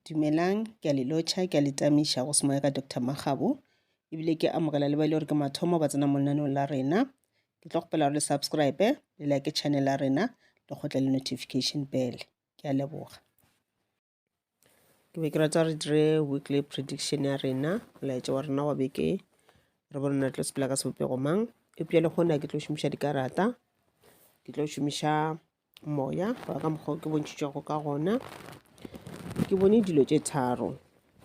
Dumelang, ke a le lotšha, ke a le tamiša go se moya ka Doctor Makgabo, ebile ke amogela le ba e le gore ke mathomo ba tsena mo lenaneong la rena. Ke tlo kgopela gore le subscribe, le like channel ya rena, le kgotle le notification bell. Ke a leboga. Ke be ke rata re dire weekly prediction ya rena, molaetša wa rena wa beke, re bone na tlo sepela ka sebopego mang. Eupša le kgona ke tlo šomiša dikarata, ke tlo šomiša Moya wa ka mokgwa ke bontšhitšego ka gona ke bone dilo tše tharo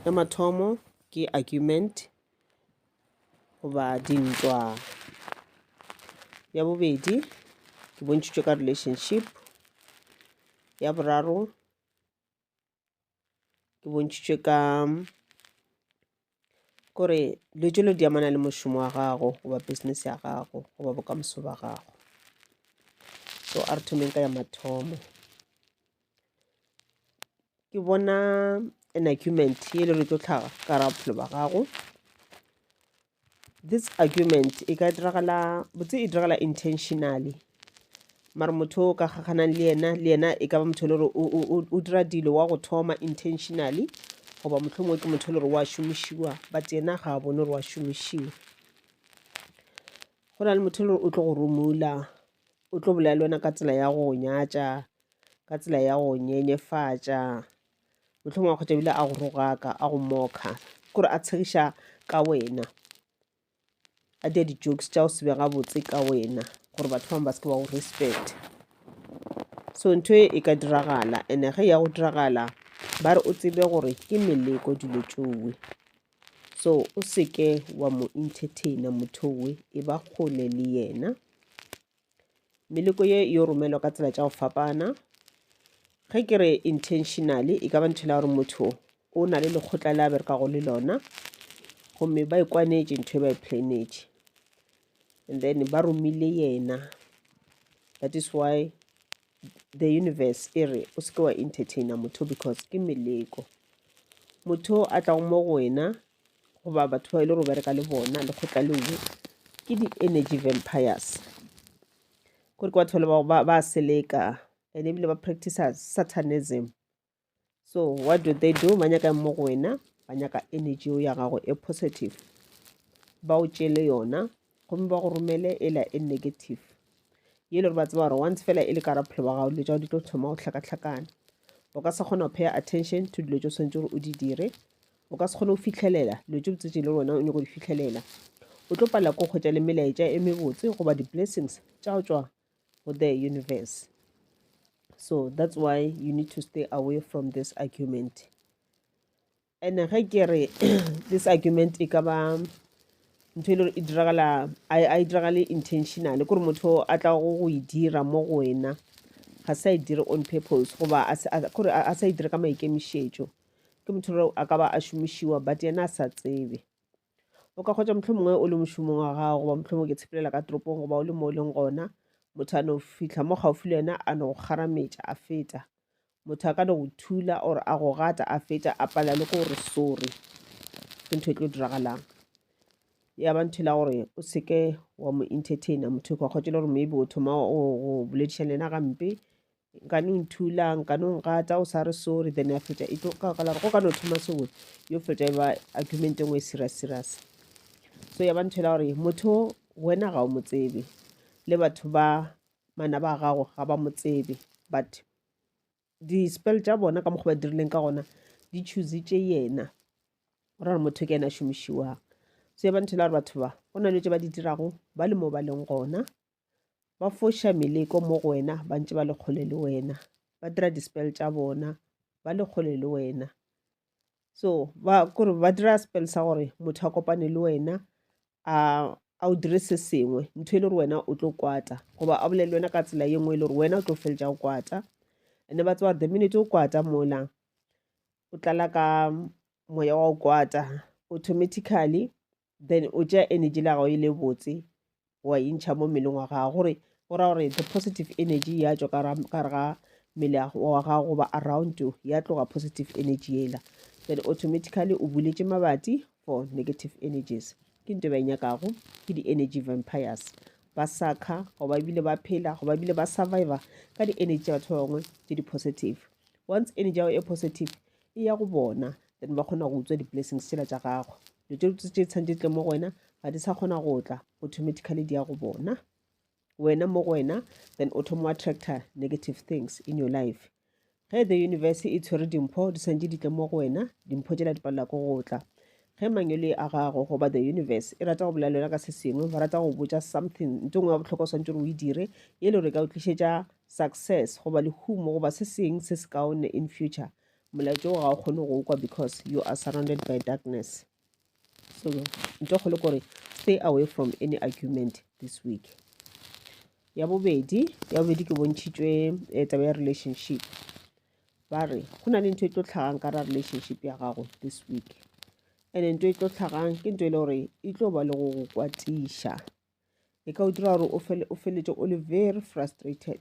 ya mathomo ke argument goba dintwa ya bobedi ke bontšhitšwe ka relationship ya boraro ke bontšhitšwe ka gore dilo tšelo di amana le mošomo wa gago goba business ya gago goba bokamoso ba gago so a re thomeng ka ya mathomo ke bona an argument e le re tlo tlhaga ka ra bophelo ba gago this argument e ka diragala botse e diragala intentionally mara motho o ka kgakganang le yena le yena e ka ba motho le gore o dira dilo wa go thoma intentionally goba motlho mongwe ke motho le gore wa šomišiwa but yena ga a bone gore wa šomišiwa go na le motho le gore o tlo go romula o tlo bolela le wena ka tsela ya go nyatša ka tsela ya go nyenyefatša mohlomong wa kgotsa ebile a go rogaka a go mokha kore a tshegiša ka wena a dia di-jokes tša go sebe gabotse ka wena gore batho bangwe ba se ke ba go respect so ntho e e ka diragala and ge ya go diragala ba re o tsebe gore ke meleko dilo tšowe so o seke wa mo entertaina motho we e ba kgole le yena Meleko ye yo romelwa ka tsela tša go fapana. Ge ke re intentionally e ka ba ntho e la gore motho o na le lekgotla le a berekago le lona gomme ba e kwanetše ntho e ba e planetše and then ba romile yena that is why the universe e re o seke wa entertaina motho because ke meleko motho a tlago mo go wena goba batho ba e le gore o bereka le bona lekgotla leo ke di-energy vampires gore ke batho ba ba ba seleka and ebile ba practice satanism so what do they do ba nyaka mo go wena ba nyaka energy ya gago e positive ba o tšele yona gomme ba go romele e la e negative ye le gore ba tseba gore once fela e le ka raphelo ba gago dilo tsa go di tlo thoma go tlhakatlhakana o ka se kgona go paya attention to dilo tse o tshwanetse gore o di dire O ka se kgone go fihlelela dilo tše botse tše le wena o nyako di fihlelela. O tlo palela ko kgwetša le melaetša e mebotse goba di-blessings tša go tšwa go the universe. So that's why you need to stay away from this argument. And ge ke re this argument e ka ba ntho e le gore e diragala a e diragale intentionally kore motho a tla go go e dira mo go wena ga sa e dire on purpose goba kore a sa e dire ka maikemišetšo ke motho re a ka ba a šomišiwa but yena a sa tsebe o ka kgotsa motlho mongwe o le mošomong wa gago goba motlho mongwe ke tshepelela ka toropong goba o le mo o leng gona motho a no fitlha mo gaufi le wena a no go kgarametša a feta motho a ka no go thula or a go gata a feta a pala le gore sorry ke ntho e tlo diragalang ya ba ntho e la gore o seke wa mo entertaina motho ka kgotsa le gore maybe o thoma go boledišana le yena gampe nka no nthula nka no ngata o sa re sorry then ya feta e tlo ka kala go ka no thoma sengwe yo feta ba argument engwe e serious serious so ya ba nthela gore motho wena ga o mo tsebe le batho ba mana ba gago ga ba mo tsebe but di-spell tša bona ka mokgwa ba dirileng ka gona di choose tše yena ra re motho ke yena a šomišiwang so ya ba nthela gore batho ba go na le tše ba di dirago ba le mo ba leng gona ba foša meleko mo go wena ba ntše ba le kgole le wena ba dira di-spell tša bona ba le kgole le wena so ba kore ba dira spell sa gore motho a kopane le wena a a o dire se sengwe ntho e le gore wena o tlo kwata goba a bolele wena ka tsela ye nngwe e le gore wena o tlo feletša o kwata and-e ba tseba the minute o kwata mola o tlala ka moya wa o kwata automatically then o tšea energy la gago e le botse wa e ntšha mo mmeleng wa gago gore go ra gore the positive energy ya tšwa ka gare ga mmele wa gago goba around you ya tloga positive energy ela then automatically o buletše mabati for negative energies ke nto ba e nyakago ke di-energy vampires ba sakha go ba bile ba phela go ba bile ba survivor ka di-energy tsa batho ba bangwe tse di-positive once energy yago e positive e ya go bona then ba kgona go utswa di-blessings tsela tša gago dilo tše dutse tše tshwanetse tle mo go wena ga di sa kgona go tla automatically di ya go bona wena mo go wena then o thoma wa tractor negative things in your life ge the universe e tshwere dimpho di tshwanetse di tle mo go wena dimpho tsela di palela ko go tla ge mangele a gago goba the universe e rata go bolela ka se sengwe ba rata go botsa something nto ngwe ya botlhokwa swantse gore o e dire e le gore e ka o tlišetša success goba lehumo goba se seng se se kaone in future Molaetša wo ga o kgone go kwa because you are surrounded by darkness. So nto kgolo kore stay away from any argument this week. Ya bobedi, ya bobedi ke bontšhitšwe eh, taba ya relationship. Ba re go na le ntho e tlo tlhagang ka ra relationship ya gago this week. And ntho e tlo tlhagang ke ntho e le gore e tlo ba le go go kwatiša. E ka o dira gore o fele- o feletse o le very frustrated.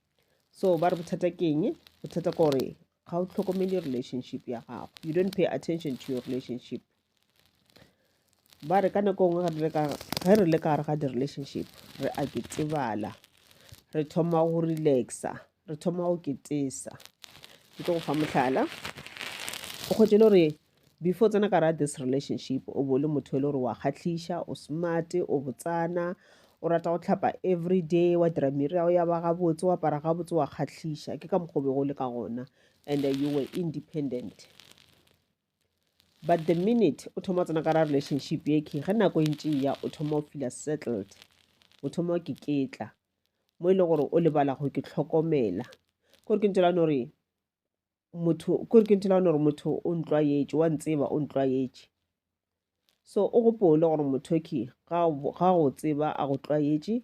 so ba re bothata ke eng bothata ke gore ga o tlhokomele relationship ya gago you don't pay attention to your relationship ba re ka nako nngwe ge re le ka gare ga di-relationship re a ketebala re thoma go relaxa re thoma go ketesa ke tlo go fa motlhala o kgwetse le gore Before tsena ka ra this relationship o bo le motho e le gore wa kgatlhiša o smart o botsana o rata go tlhapa every day wa dira miri yago ya ba gabotse wa para gabotse wa kgatlhiša ke ka mokgobe go le ka gona and you were independent but the minute o thoma tsena ka ra relationship ye ke ge nako e ntše ya o thoma o feel settled o thoma o keketla mo e le gore o lebala go ke tlhokomela kore ke ntse la no re motho kore ke nthela gore motho o ntlwaetše wa ntseba o ntlwaetše so o gopole gore mothoki ga go tseba a go tlwaetše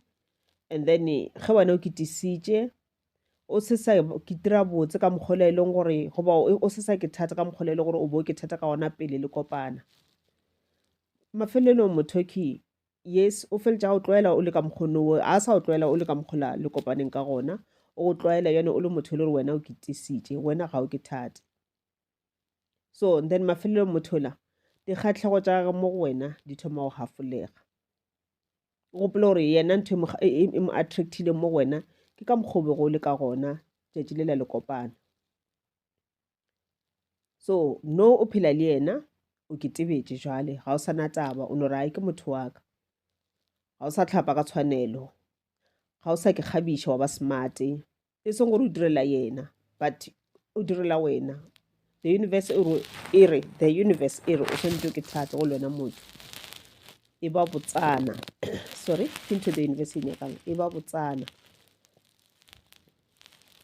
and then ge wena o kitisitše o se sa kitira botse ka mokgolo e leng gore goba o se sa ke thata ka mokgolo e leng gore o bo ke thata ka ona pele le kopana mafelelong mothoki yes o feletša o tlwaela o le ka mokgono wo a sa o tlwaela o le ka mokgola le kopaneng ka gona o go tlwaela yone o le motho e le gore wena o kitisitše wena ga o ke thate so then mafelelong mothola dikgatlhego tša gage mo go wena di thoma go gafolega o gopola gore yena ntho e, e, e, e mo attractile mo go wena ke ka mokgobe go le ka gona tšatši le la le kopana so no o phela le yena o ke tebetše jwale ga o sa na taba o no rae ke motho wa ka ga o sa tlhapa ka tshwanelo ga o sa ke kgabiša wa ba smarte e seng gore o direla yena but o direla wena the universe e re the universe e re o tshwanetse ke thate go lwena motho e ba botsana sorry ke ntho the universe e nyakang e ba botsana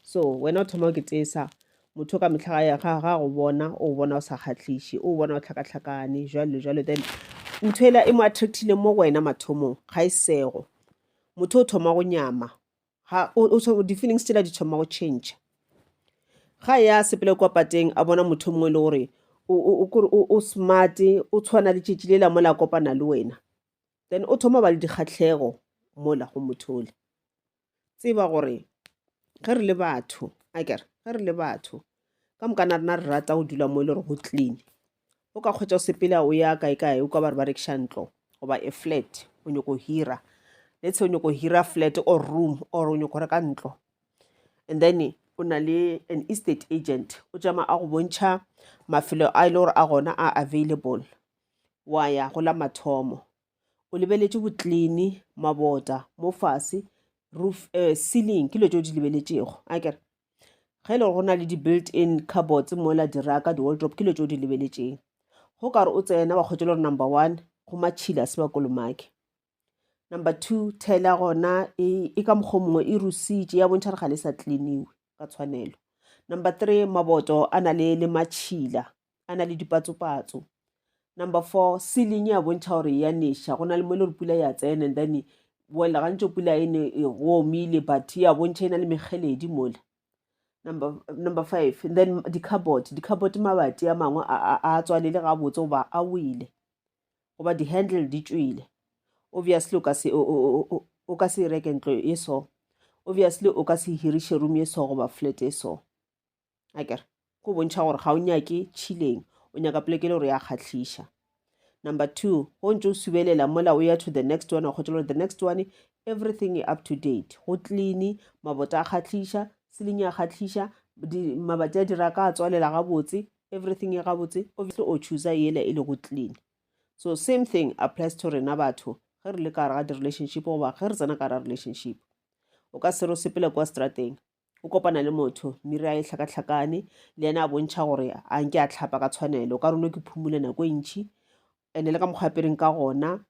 So wena o thoma o ketesa motho ka mehla ga ya ga ga go bona o bona o sa kgatlhiše o bona o tlhakatlhakane jalo jalo then ntho ela e mo attractile mo go wena mathomong ga e sego motho o thoma go nyama ga di-feelings tsela di thoma go change ga ya sepele kwa pateng a bona motho mongwe e le gore o smart o tshwana le tšetši le la mola kopana le wena then o thoma ba le dikgatlhego mola go motho ole tseba gore ge re le batho a kere ge re le batho ka moka na rena re rata go dula mo e le gore go clean o ka kgwetsa o sepela o ya kae kae o ka ba re ba rekiša ntlo goba e flat o nyoko hira let's say o nyoko hira flat or room or o nyoko reka ntlo and then o na le an estate agent o tšama a go bontšha mafelo a e le gore a gona a available wa ya go la mathomo o lebeletše botlini mabota mo fase roof uh, ceiling ke lo tšeo di lebeletšego a kere ge e le gore go na le di-built in carbots mola diraka di-waldrop ke lo tšeo di lebeletšeng go kare o tsena wa kgwetša le gore number one go matšhila se ba kolomake number two thela gona e, e ka mokgwa mongwe e rusitše ya bontšha re ga le sa tliniwe ka tshwanelo number three maboto a na le le matšhila a na le dipatsopatso number four ceiling ya bontšha gore ya neša go na le mo e le gore pula ya tsena and then well gantso pula e ne e omile but ya bontšha e na le mekgeledi mola number, number five and then di-carbot di-carbot mabati a mangwe a tswalele gabotse goba a wele goba di-handle di tswile obviously o ka se o ka se reke ntlo e so obviously o ka se hiriše room e so goba flat e so a kere go bontšha gore ga o nyake tšhileng o nyaka poleke le gore ya kgatlhiša number two go ntse o subelela mola o ya to the next one wa kgotsa gore the next one everything up to date go clean mabota a kgatlhiša seling ya kgatlhiša mabati a dira ka a tswalela gabotse everything e gabotse obviously o choosa yela e le go clean so same thing applies to rena batho ge re le ka gare ga di-relationship goba ge re tsena ka gare ga relationship o ka sero sepela kwa strateng o kopana le motho mmiri a e tlhakatlhakane le yena a bontšha gore a nke a tlhapa ka tshwanelo o ka rone ke phumule nako e ntšhi ene le ka mokgwa apereng ka gona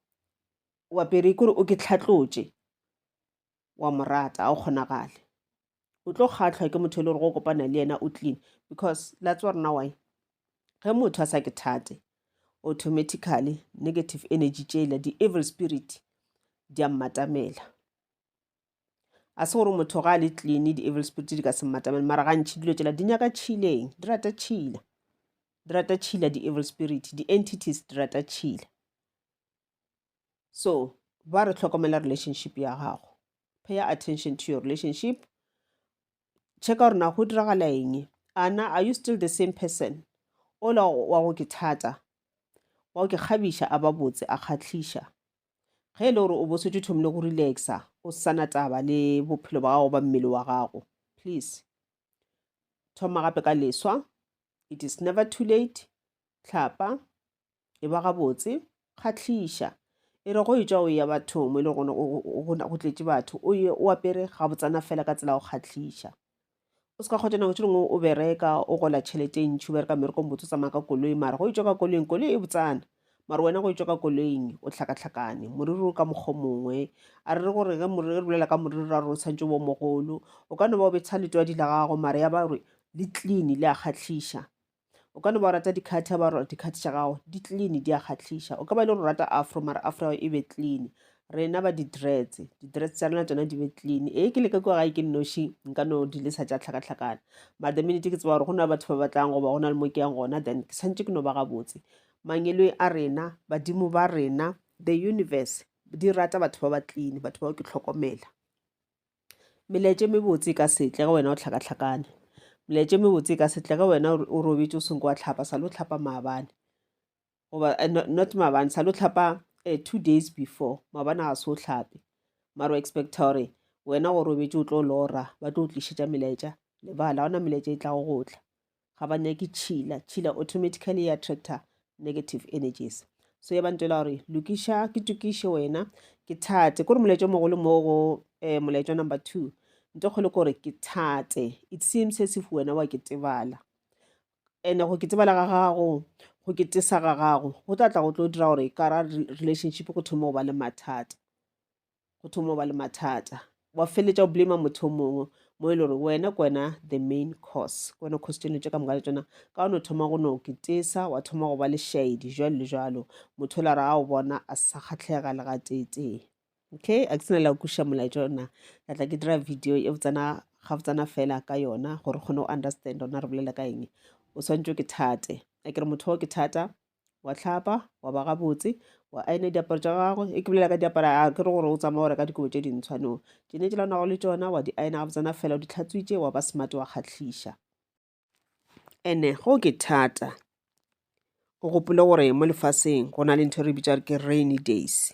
o apere kore o ke tlhatlotše wa mo rata a o kgonagale o tlo kgatlhwa ke motho e le gore go kopana le yena o clean because latse wa rena wy ge motho a sa ke thate automatically negative energy tšela di-evil spirit di a mmatamela a se gore motho ga a le clean di-evil spirit di ka se mmatamele mara gantšhi dilo tšela di nyaka tšhileng di rata tšhila di rata tšhila di-evil spirit di-entities di rata tšhila so ba re tlhokomela relationship ya gago pay attention to your relationship checka gore na go diragala eng ana are you still the same person ola wa go ke thata wa go ke kgabiša a ba botse a kgatlhiša Ge e le gore o bo setse thomile go relaxa, o se sana taba le bophelo ba gago ba mmele wa gago, please thoma gape ka leswa. It is never too late. Tlhapa, e ba gabotse, kgatlhiša. E re go e tšwa o ya bathong mo e le gona go tletše batho, o ye o apere gabotsana fela ka tsela go kgatlhiša. O se ka kgotša nako tše dingwe o bereka o gola tšhelete e ntšhi o bereka mmereko motse o tsamaya ka koloi mara go itšwa ka koloing koloi e botsana mara wena go itšwa ka koloing o tlhakatlhakane moriri o ka mokgwa mongwe a re re gore ge re bolela ka moriri ra gore o tshwantse bo mogolo o ka no ba o betsha letwadi la gago mara ya ba gore le clean le a kgatlhiša O ka no ba o rata dikhathi ba gore dikhathi tša gago di clean di a kgatlhiša. O ka ba e le gore o rata afro mara afro ya gago e be clean. Rena ba di-dreads di-dreads tša rena tsona di be clean. Ee ke leka kua gae ke nnoši nka no di lesa tša tlhakatlhakana but the minute ke tseba gore go na le batho ba batlang goba go na le mo ke yang gona then ke tshwanetse ke no ba gabotse. Mangeloi a rena badimo ba rena the universe di rata batho ba ba clean batho bao ke tlhokomela. Melaetša e mebotse e ka se tle ge wena o hlakahlakane. Melaetša e mebotse e ka se tle ge wena o robetše o senko wa tlhapa sa lo tlhapa maabane goba eh, not maabane sa lo tlhapa eh, two days before maabane ga se o tlhape maro expecta gore wena go robetše o tlo lora ba tlo o tlišetša melaetša lebala gona melaetša e tlago go tla ga ba nyake tšhila tšhila automatically ya attractor negative energies so ya bantela gore lokiša ke tokiše wena ke thate kore molaetša mogolo mo go um molaetša number two nto kgolo kore ke thate it seems as if wena wa ke tebala and go ke tebala ga gago go ke tesa ga gago go tla tla go tlo dira gore kara relationship go thoma go ba le mathata go thoma ba le mathata wa feletša o blame motho o mongwe mo e le gore wena ke wena the main cause ke wena cause tseno tše ka moka le tsona ka one o thoma go no ketesa wa thoma go ba le shaedi jalo le jalo motho o la re a o bona a sa kgatlhega le ga teetee okay a ke sena la kuša molaetša ona ka tla ke dira video e botsana ga botsana fela ka yona gore kgone go understand ona re bolela ka eng o swantšwe ke thate a ke re motho o ke thata wa tlhapa wa ba gabotse wa aene diaparo tša gagwe e ke bolela ka diaparo a ke re gore o tsamaya o reka dikobo tše dintshwa no tšene tše lanago le tšona wa di aena gabotsana fela o di tlhatswitše wa ba smart wa kgatlhiša ene go ke thata o gopole gore mo lefaseng go na le ntho e re bitsa ke rainy days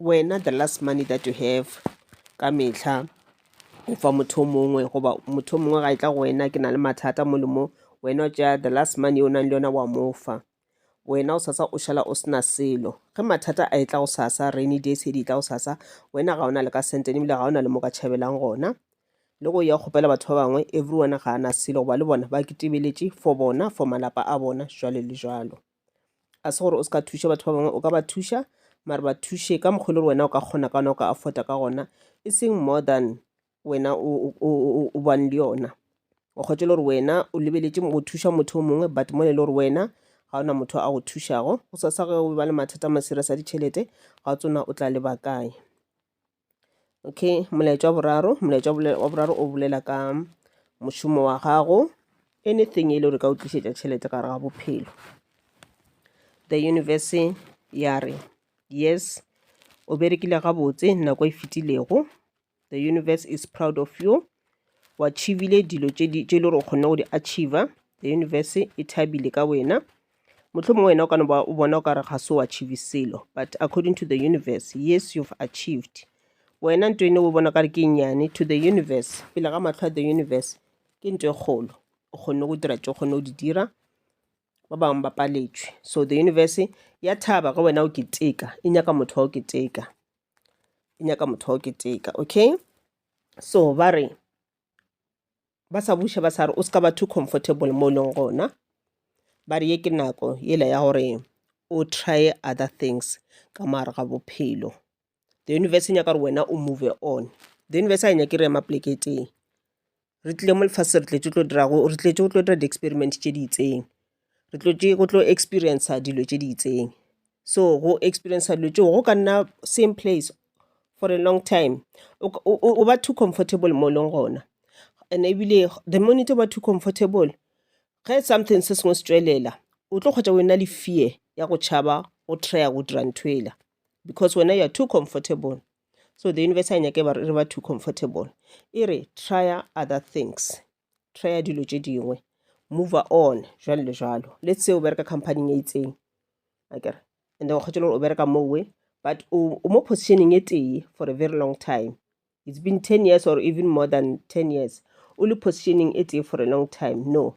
wena the last money that you have ka mehla o fa motho o mongwe goba motho o mongwe ga e tla go wena ke na le mathata mo le mo wena o tša the last money o nang le yona wa mo fa wena o sasa o šala o sena selo ge mathata a e tla go sasa rainy days e di tla go sasa wena ga o na le ka sentene ebile ga o na le mo ka tšhabelang gona le go ya kgopela batho ba bangwe everyone ga a na selo goba le bona ba kitebeletše for bona for malapa a bona jalo le jalo ga se gore o se ka thuša batho ba bangwe o ka ba thuša mare ba thuše ka mokgwa le gore wena o ka kgona ka ona o ka affota ka gona e seng more than wena o bang le yona o kgwetse le gore wena o lebeletse go thuša motho o mongwe but mo le le gore wena ga ona motho a go thušago go sa sa ge o ba le mathata ma serious a ditšhelete ga o tsona o tla lebakae okay molaetša wa boraro molaetša wa boraro o bolela ka mošomo wa gago anything e le gore ka o tlišetša tšhelete gare ga bophelo the universe ya re yes o berekile gabotse nako e fetilego the universe is proud of you wa achievile dilo tše le gore o kgonne go di achiever the universe e thabile ka wena Mohlomongwe wena o ka no ba o bona o ka re ga se o achieve selo but according to the universe yes you've achieved wena nto ene o bona ka re ke nnyane to the universe pele ga matlho a the universe ke nto e kgolo o kgonne go dira tse o kgonne go di dira ba bangwe ba paletšwe so the universe ya thaba ge wena o keteka e nyaka motho wa o keteka e nyaka motho wa o keteka okay so ba re ba sa buša ba sa re o se ka ba too comfortable mo e leng gona ba re ye ke nako yela ya gore o try other things ka maare ga bophelo the universe e nyaka gore wena o move on the universe a e nyake re ema poleke teng re tlile mo lefatshe re tletse tlo dirago re tletse go tlo dira di-experiment tše di itseng re tlotše go tlo experiencer dilo tše di itseng. So go experiencer dilo tšeo go ka nna same place for a long time o ba too comfortable mo o leng gona. And-e ebile the minute o ba too comfortable ge something se sengwe se tšwelela o tlo hwetša o e na le fear ya go tšhaba go try-a go dira ntho yela because wena you are too comfortable. So the universe ga e nyake re ba too comfortable e re try-a other things. try ya dilo tše dingwe move on jwalo le jwalo le tseo o bereka companyng e itseng akere and then o kgwetše le gore o bereka mowe but o mo positioning e tee for a very long time it's been ten years or even more than ten years o le positioning e tee for a long time no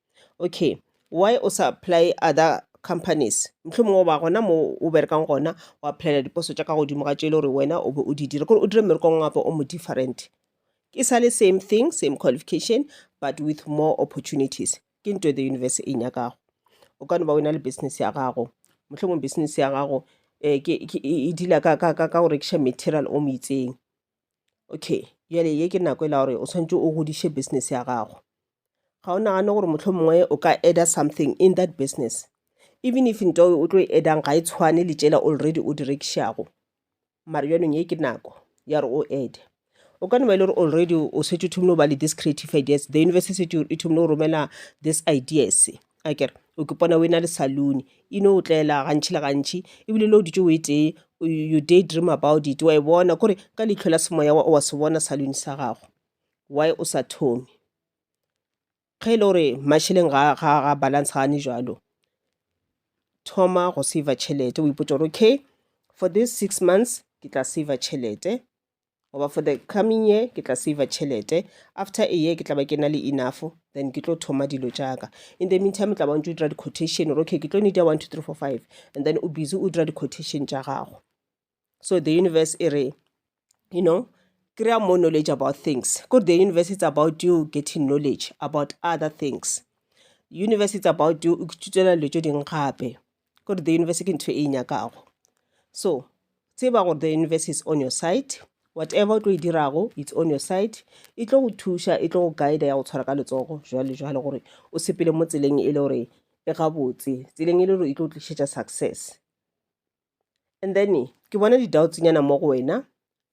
Okay why o sa apply other companies? Mohlomongwe o ba gona mo o berekang gona o applyela diposo tša ka godimo ga tše e le gore wena o be o di dira, kore o dire mmereko wa gago o mo different. E sa le same thing, same qualification but with more opportunities. Ke nto the universe e nyakago. O ka no ba o na le business ya gago, mohlomongwe business ya gago um e dealer ka go rekiša material o mo itseng. okay jale ye ke nako e la gore o tshwanetse o godiše business ya gago ga o nagane gore motlho mongwe o ka adder something in that business even if nto o tlo e addang ga e tshwane le tšela already o di rekišago mare bjanong ye ke nako ya gore o add o ka no ba e le gore already o setse o thomile go ba le this creative ideas the university setse e thomile go romela this ideas akere o ke pona o e na le saloon e no otlela gantši le gantši ebile le o dutše o e tee you day dream about it wa e bona kore ka leitlho la semoya wa wa se bona saloon sa gago why o sa thome ge e le gore mašeleng ga ga ga balance gane jalo thoma go saver tšhelete o ipotša gore okay for this six months ke tla saver tšhelete goba for the coming year ke tla saver tšhelete after a year ke tla ba ke na le enough then ke tlo thoma dilo jaaka in the meantime tla bantse o dira di-quotation ore okay ke tlo need ya one two three four five and then o busy o dira di-quotation tša gago so the universe e re you know kry-a more knowledge about things kore the universe it's about you getting knowledge about other things universe it's about you o kututela dilo tše dingwe gape gore the universe ke ntho e e nyakago so tseba gore the universe is on your side whatever o tlo e dirago it's on your side e tlo go thuša e tlo go guide ya go tshwara ka letsogo jwale jwale gore o sepele mo tseleng e le gore e gabotse tseleng e le gore e tlo tlišetša success and then ke bona di-doubtsnyana mo go wena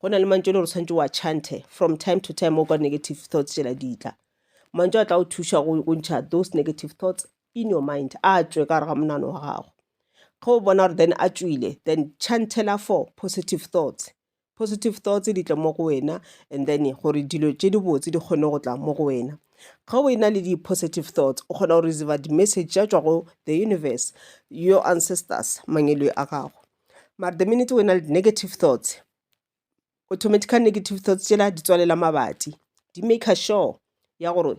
go na le mantšu le gore tshwanetse wa chante from time to time o kwa negative thoughts tšela ditla mantšu a tla o thuša go ntšha those negative thoughts in your mind a tswe ka gare ga monano wa gago ge o bona gore then a tswile then chantela for positive thoughts positive thoughts di tle mo go wena and then gore dilo tše di botse di kgone go tla mo go wena ge o ena le di-positive thoughts o kgona go receiva di-message tša tswa go the universe your ancestors mangelwe a gago Mara the minute o ena le negative thoughts, automatically negative thoughts tšela di tswalela mabati. Di maker sure ya gore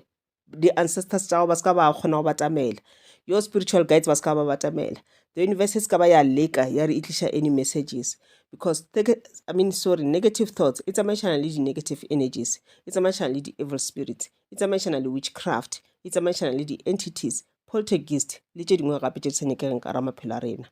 di-ancestors tša gago ba se ka ba kgona go batamela. Your spiritual guides ba se ka ba batamela. The universe e se ka ba ya leka ya re e tliša any messages because teke- I mean sorry negative thoughts e tsamaišana le di-negative energies, e tsamaišana le di-evil spirits, e tsamaišana le witchcraft, e tsamaišana le di-entities, poltergeist le tše dingwe gape tše di sa nyakegeng ka ra maphelo a rena.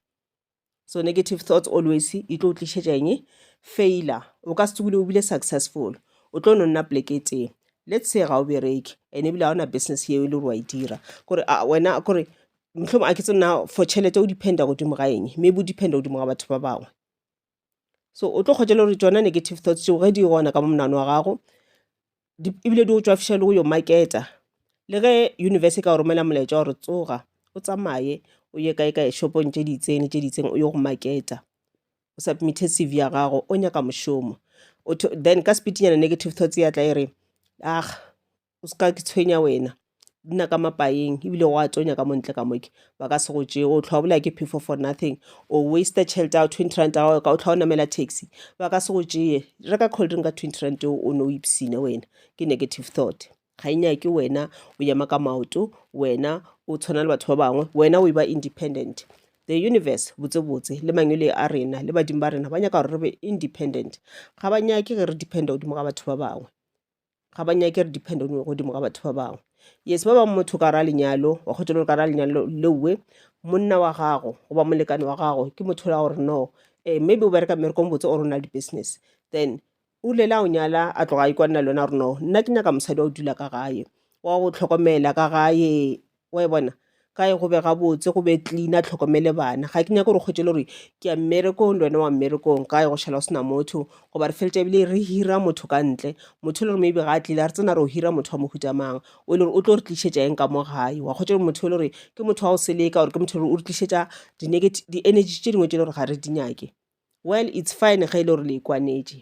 so negative thoughts always e tlo tlišetša eng failure o ka se tsogile o bile successful o tlo no nna poleke e tee let's say ga o bereke and ebile ga ona business yeo e le gore wa e dira kore wena kore motlhomo a ke tse nna for tšhelete o dependa godimo ga eng maybe o dependa godimo ga batho ba bangwe so o tlo kgotšela gore tšona negative thoughts tšeo ge di gona ka mo monano wa gago ebile di go tswafiša le go yo maketa le ge universe e ka romela molaetša gore tsoga o tsamaye o ye kae kae shopong tše di itseng le tše di itseng o ye go maketa o submithe cv ya gago o nyaka mošomo then ka sepitinyana negative thoughts ya tla e re aga o se ka ke tshwenya wena di na ka mapaeng ebile go a tsonya ka montle ka moke ba ka se go tšee o tlhwa bola ke phefo for nothing o waste tšhelete ya twenty rand ya gago ka o tlhwa o namela taxi ba ka se go tšee reka coldrink ka twenty rand o ne o ipsine wena ke negative thought ga e nyake wena o ema ka maoto wena o tshwana le batho ba bangwe wena o e ba independent the universe botsebotse le mangwele a rena le badimo ba rena ba nyaka gore re be independent ga ba nyake ge re dependa godimo ga batho ba bangwe ga ba nyake re depend on godimo ga batho ba bangwe yes ba bangwe motho ka ra lenyalo wa kgotsa le ka ra lenyalo lewe monna wa gago goba molekane wa gago ke motho la gore no um maybe o bereka mmerekong botse o rona le di-business then o lela o nyala a tloga a ikwanela le wena gore no nna ke nyaka mosadi wa go dula ka gae wa go tlhokomela ka gae wa e bona kae go be gabotse go be clean a tlhokomele bana ga ke nyake gore kgwetšele gore ke ya mmerekong le wena wa mmerekong kae go šhala go sena motho goba re feletša ebile re hira motho ka ntle motho e le gore maybe ga a tlile a re tsena re o hira motho wa mohuta mang o e le gore o tlo re tlišetša eng ka mo gae wa kgwetša gore motho e le gore ke motho wa go seleka gore ke motho e le gore o re tlišetša di-energy tše dingwe tše e le gore ga re di nyake well it's fine ge e le gore le ikwanetše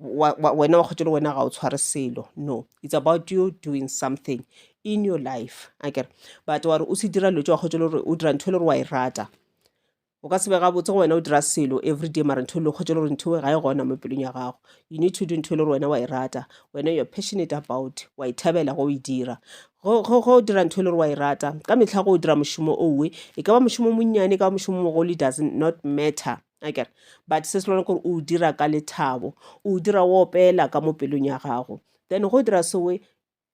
wa, wa, wena wa kgotho le wena ga o tshware selo no it's about you doing something in your life a kere but wa re o se dira lotso wa kgotho le gore o dira ntho e le gore wa e rata o ka sebe gabotse go wena o dira selo everyday mara ntho e le kgotho le gore ntho e ga e gona mo pelong ya gago you need to do ntho e le gore wena wa e rata wena you're passionate about wa e thabela go e dira go go- go dira ntho e le gore wa e rata ka metlha go o dira mošomo owe e ka ba mošomo monnyane e ka ba mošomo mogolo it doesn't not matter akere but se se lona kore o dira ka lethabo o dira o opela ka mo pelong ya gago then go dira sewe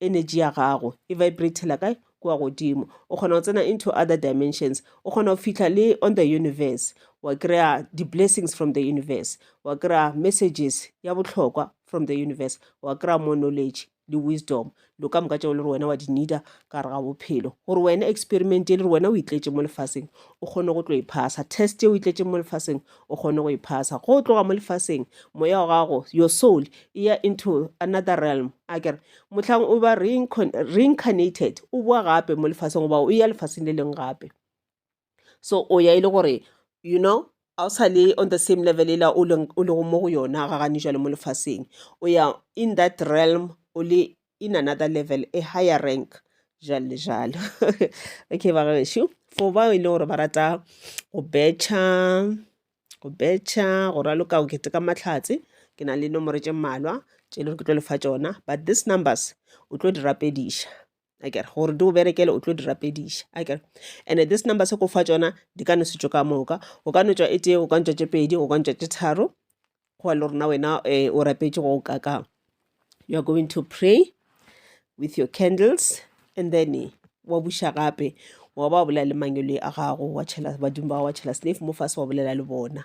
energy ya gago e vibratela kae kua godimo o kgona go tsena into other dimensions o kgona go fitlha le on the universe wa kry-a di-blessings from the universe wa kry-a messages ya bohlokwa from the universe wa kry-a more knowledge le wisdom dilo ka moka tšeo le re wena wa di needa ka gare ga bophelo gore wena experiment e le re wena o itletše mo lefaseng o kgone go tlo e phasa test e o itletšeng mo lefaseng o kgone go e phasa go tloga mo lefaseng moya wa gago your soul e ya into another realm a kere mohlang o ba reincarnated o boa gape mo lefaseng goba o ya lefaseng le leng gape so o ya e le gore you know ga o sa le on the same level e la o lego mo go yona ga gane jale mo lefaseng o ya in that realm o le in another level a higher rank jalo le jalo okay ba gaešo for bao e le gore ba rata go betšha go betšha go raloka go keteka matlhatse ke na le nomoro tše mmalwa tše e le gore ke tlo lefa tšona but these numbers o tlo di rapediša a kere gore di o berekele o tlo di rapediša a kere and this number se ko fa tsona di ka no se tšo ka moka o ka no tswa e tee o ka ntswa tše pedi o ka ntswa tše tharo goa le rona wena um o rapetše go o kakang you are going to pray with your candles and then eh, wa buša gape wa ba bolela le mangele a gago wa tšhela badimo ba wa tšhela snaf mo fase wa bolela le bona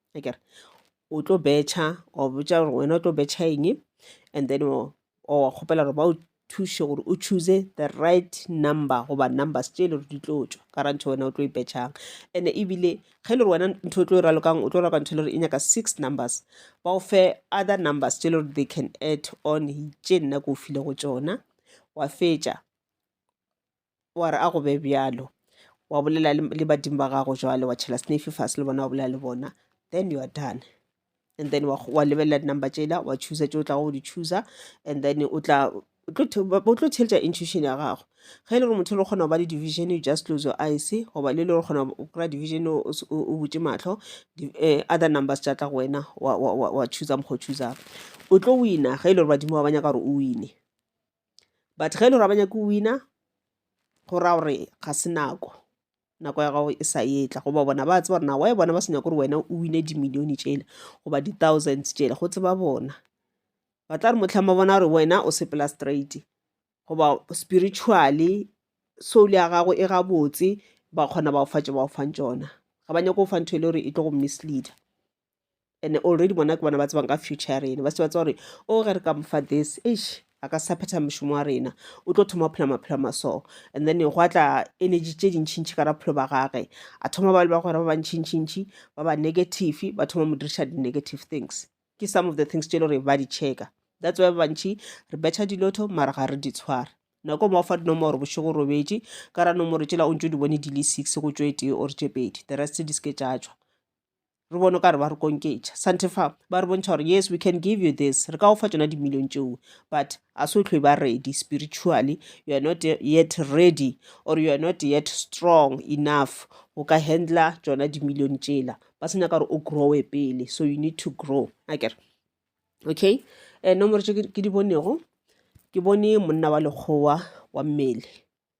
akere o tlo betšha wa botša gore wena o tlo betšha eng and then wa kgopela gore ba o thuše gore o choose the right number goba numbers tše e le gore di tlo tšwa ka ra ntho wena o tlo ipetšhang and ebile ge e le gore wena ntho o tlo e ralokang o tlo raloka ntho e le gore e nyaka six numbers ba o fe other numbers tše e le gore they can add on tše nna ke o file go tšona wa fetša wa re a go be bjalo wa bolela le le badimo ba gago jwale wa tšhela snafe fase le bona wa bolela le bona then you are done and then wa kg- wa lebelela di-number tšela wa choosa tše o tlago go di choosa and then o tla o tlo the- ba- o tlo theletša intuition ya gago ge e le gore motho le kgona go ba le division you just close your eyes goba le le gore kgona go kry-a division o o s- o- o butše mahlo di- eh, other numbers tša tla go wena wa- wa wa- wa choosa mokgwa o choosang o tlo wina ge e le gore badimo ba ba nyaka gore o wine but ge e le gore ga ba nyake go wina go raya gore ga se nako nako ya gago e sa etla goba bona ba tseba gore na wae bona ba se nyake gore wena o wine dimilione tsela goba di-thousands tsela go tseba bona ba tla re motlhang ba bona gore wena o sepela straight goba spiritually soul ya gago e gabotse ba kgona ba o fatša ba o fang tsona ga ba nyake go fa ntho e le gore e tlo go misleader and already bona ke bona ba tsebang ka future ya rena ba se ba tsa gore o oh, ge re ka mo fa this eish a ka sa phetha mošomo wa rena o tlo thoma go phela maphelo a maso and then go atla energy tše dintšhintšhi ka raphelo ba gage a thoma ba le ba gore ba bantšhintšhintšhi ba ba negative ba thoma mo diriša di-negative things ke some of the things tše le gore ba di checka that's why bantšhi re betšha dilotho mara ga re di tshware nako mo fa dinomoro bošego robetše ka ra nomoro tšela o ntse o di bone di le six go tšwe tee or tše pedi the rest di se ke tša tšwa Re bone o ka re ba re konketša. Santefa, ba re bontšha gore, yes, we can give you this, re ka go fa tšona dimilione tšeo, but a se o tlho e ba ready spiritually, you are not yet ready, or you are not yet strong enough go ka handler tšona dimilione tšela. Ba se nyaka gore o growe pele, so you need to grow. A kere, okay, um nomoro tše ke di bonego, ke bone monna wa lekgowa wa mmele,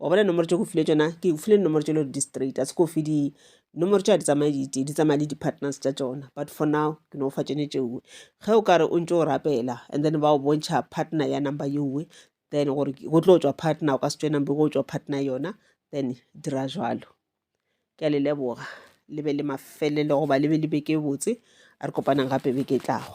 wa bona nomoro tse go file tsona ke go file nomoro tse le di straight a se ko fi di nomoro tša di tsamaye di di tsamaye le di-partners tša tsona but for now ke no fa tsone tšeoe ge o kare o ntse o rapela and then ba o bontšha partner ya number yeoe then gore go tlo tswa partner o ka se tswe number go tswa partner yona then dira jalo ke a le leboga le be le mafelelo goba le be le beke botse a re kopanang gape beke tlago